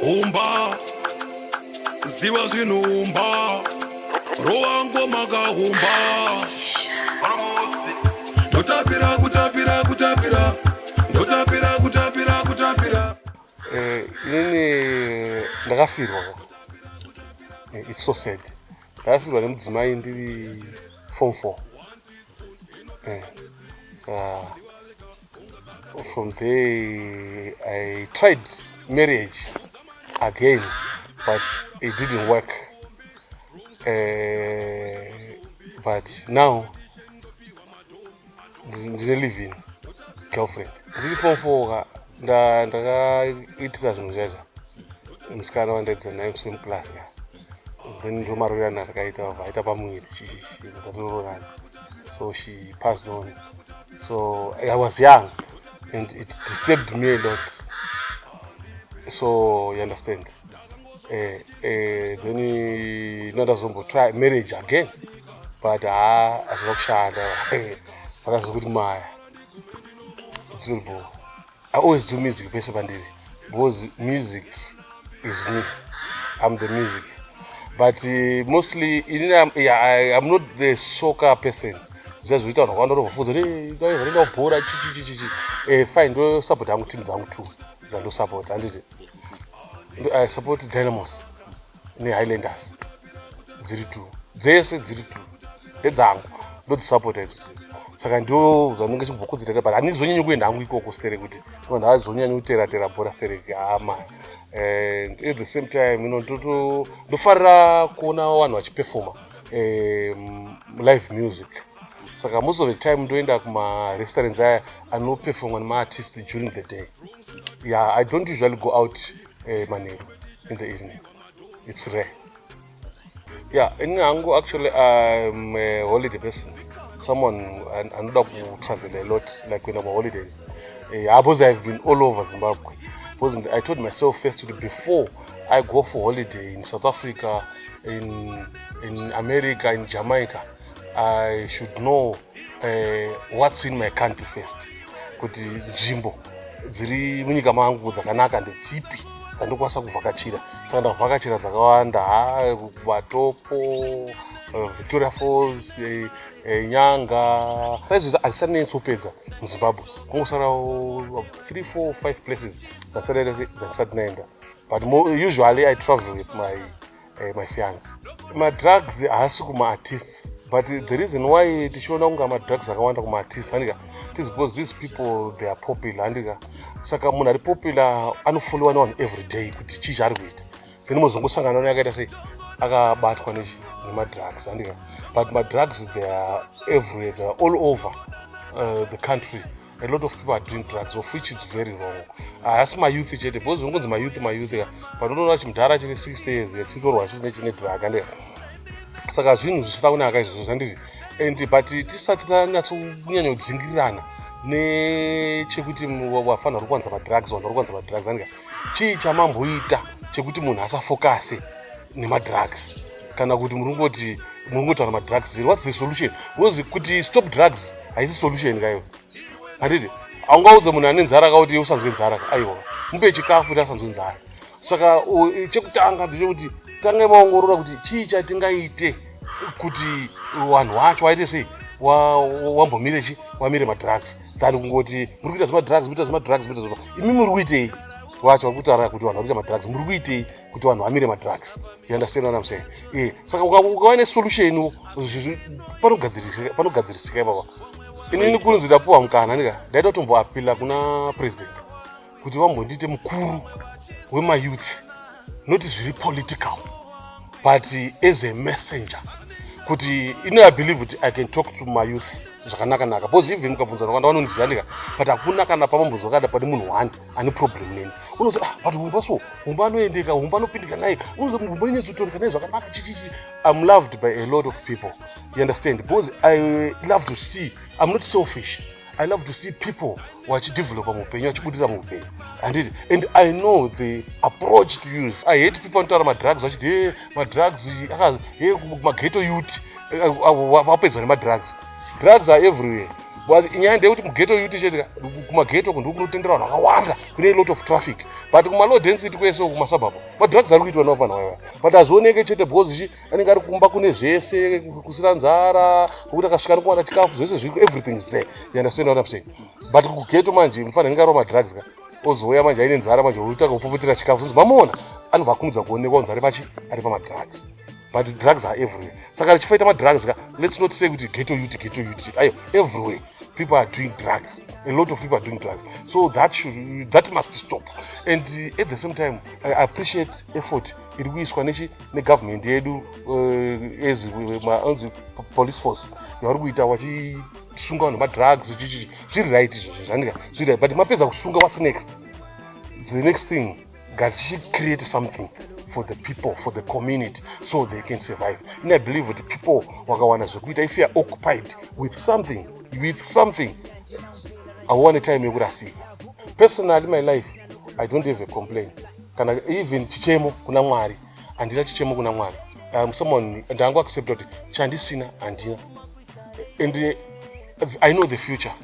umba ziva zvinhu umba rova ngoma kahumba ndotapira kutapira kutapira ndotapira kutapira kutapira eh, nini ndakafirwa eh, its so sad ndakafirwa nemudzimai ndiri form four eh, From there I tried marriage again but it didn't work. Uh, but now ndine living girlfriend ndiri form four ka ndakaitisa zvinhu zvaizva musikana wandaitisa naye kusame class ka ndomarorerano atakaita vaita pamuviri tatirororana so she passed on so i was young and it disturbed me a lot so you understand eh, eh, then ndandazomboty marriage again but haa ah, hazvina kushanda vakazokuti maya zilbo I always do music pese pandiri because music is me. I'm the music. But uh, mostly in, um, yeah, I, I'm not the soccer person. zvazoita vanhu vakawanda vanovafunza vanoenda kubhora chichichichichi eh, fine ndosapota hangu team dzangu two dzandosapota handiti i support dynamos nehighlanders dziri two dzese dziri two ndedzangu ndodzisapota idzi saka ndo zvanenge chimbokudzitera but handizonyanyi kuenda hangu ikoko sterek kuti vanhu havazonyanyi kuteratera bhora sterek hama and at the same time you know ndoto ndofarira kuona vanhu vachipefoma um, live music saka most of the time ndoenda kumarestaurants aya anopefomwa nemaartist during the day yeah i don't usually go out eh, manheru in the evening it's rare yeah ini hangu actually im a holiday person someone anoda kutravel a lot like when ama holidays eh, because i've been all over zimbabwe because i told myself first to before i go for holiday in south africa in, in america in jamaica i should know eh, what's in my country first kuti nzvimbo dziri munyika mangu dzakanaka ndedzipi dzandikwanisa kuvhakachira saka ndavhakachira dzakawanda vatopo eh, victoria falls eh, eh, nyanga aizveza handisanetsopedza muzimbabwe kungosarawo 3 4 5 places dzandisati naenda but usually i travel with my eh, my fiance madrugs haasi kumaartists but the reason why tichiona kunge madrugs akawanda kumaartists handika tis because these people they are popular handika saka munhu ari popular anofoliwa nevanhu every day kuti chii chaari kuita then mozongosangana ne akaita sei akabatwa nemadrugs handika but madrugs they are everywhere they are all over uh, the country a lot of people are doing drugs of which is very wrong haasi ah, mayouth chete because zvinongonzi mayouth mayouth ka but unoona chimudhara chine 60 years yachitorwa chine chine drug ande saka zvinhu zvisina kunaka izvozvo zvandizvi and but tisati tanyatsonyanya kudzingirirana nechekuti wafanha uri kuwanza madrugs wanhu uri kuwanza madrugs andika chii chamamboita chekuti munhu asafokase nemadrugs kana kuti muri kungoti muri kungotaura madrugs ziri whats the solution bcause kuti stop drugs haisi solution kayo handiti aungaudze munhu ane nzara ka kuti usanzwe nzara ka aiwa mupe chikafu kuti asanzwe nzara saka chekutanga ndechekuti tangai maongorora kuti chii chatingaite kuti vanhu wacho waite sei wambomire chi wamire madrugs than kungoti muri kuita zvemadrugs muita zvemadrugs muita zvema imi muri kuitei wacho vari kutaura kuti vanhu vari kuita madrugs muri kuitei kuti vanhu vamire madrugs you understand what I'm saying eh saka ukava ne solution panogadzirisika panogadzirisika ipapa inini kunzi ndapuwa mukana ndika ndaida kutomboapila kuna president kuti vambondiite mukuru wemayouth not zviri political but as a messenger kuti ini i believe kuti i can talk to my youth zvakanaka naka because even mukabvunza vakanda vanondiziva ndika but hakuna kana pamambozvakada pane munhu one ane problem neni unozo ah but humba so humba anoendeka humba anopindika naye unozo humba inyatsotondeka naye zvakanaka chichichi i'm loved by a lot of people you understand because i love to see i'm not selfish i love to see people vachidevelopa muupenyu vachibudirira muupenyu handiti and i know the approach to use i hate people anotaura madrugs vachiti he madrugs he mageto yut eh, eh, vapedzwa nemadrugs drugs are everywhere nyaya ndeyekuti mugeto yuti chete kumageto uku ndikunotenderwa vanhu vakawanda kune lot of traffic but kumalow density kwese uku kumasabhabha madrugs ari kuitwa navo vanhu vaiva but hazvioneke chete because chi anenge ari kumba kune zvese kusira nzara kokuti akasvika ari kuwana chikafu zvese zviri everything is there you understand what i'm saying but kugeto manje mufana anenge arova madrugs ka ozouya manje aine nzara manje oita kupopotera chikafu zonzi mamuona anobva akumudza kuonekwa kunzi ari pachi ari pamadrugs but drugs are everywhere saka richifaita madrugs ka let's not say kuti geto ut geto ut ayo everywhere people are doing drugs a lot of people are doing drugs so that should that must stop and uh, at the same time i appreciate effort iri kuiswa nechi negovernment yedu uh, as anzi police force yavari kuita vachisunga vanhu madrugs zvichichi zviri right izvozvo zvandika zviri right but mapedza kusunga what's next the next thing ngatichicreate something for the people for the community so they can survive and i believe kuti people wakawana zvekuita if youare occupied with something with something hauwane time yekurasika personally my life i don't have a complain kana even chichemo kuna mwari handina chichemo kuna mwari um, someone ndangu accepta kuti chandisina handina and uh, i know the future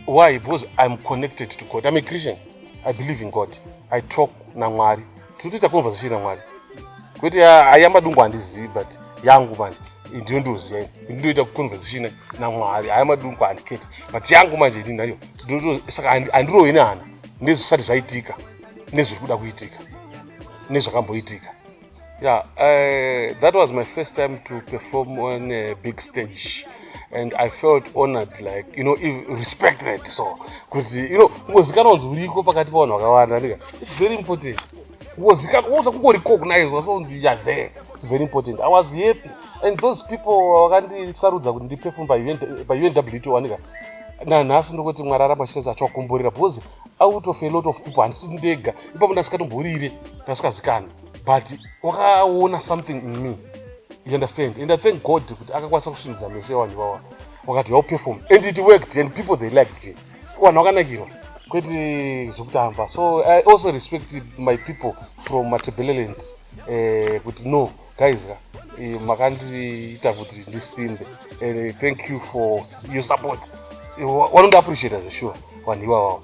why because iam connected to god iam a christian i believe in god i talk namwari tinotoita conversation namwari kwete ayamba dungu handizivi but yangu manje ndiyo ndoziva ndinoita conversation namwari ayamba dungu handikete but yangu manje ini nayo saka handirohi nehana nezvisati zvaitika nezviri kuda kuitika nezvakamboitika Yeah, uh, that was my first time to perform on a big stage. and i felt honored like you know respected so kuti you know kungozikanwa kunzi uriko pakati pavanhu vakawanda ndika its very important kungozikanwa woza kungorecognizwa so kunzi youare there its very important i was happy and those people vakandisarudza kuti ndiperform paunwto andika nanhasi ndokuti mwari aramba chitese achiwakomborera because out of a lot of people handisi ndega ipapo ndasikatomborire ndasikazikani but wakaona something in me you understand and i thank god kuti akakwanisa kusvindidza meso evanhu vawa wakati well perform and it worked and people they liked it vanhu vakanakirwa kwete zvokutamba so i also respect my people from matebeleland eh, kuti no guys ka eh, makandiita kuti ndisimbe and eh, thank you for your support eh, wanondiappreciata zvesure vanhu iwavawo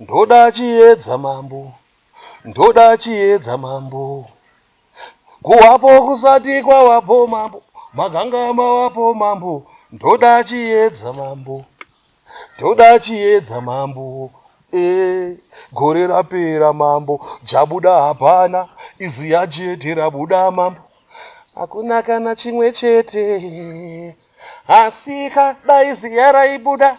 Ndoda chiedza mambo, ndoda chiedza mambo, kuwapo kusati kwawapo mambo, maganga mawapo mambo, ndoda chiedza mambo, ndoda chiedza mambo. Eh, gore rapera mambo jabuda hapana izi yajete rabuda mambo hakuna kana chimwe chete asika daizi yaraibuda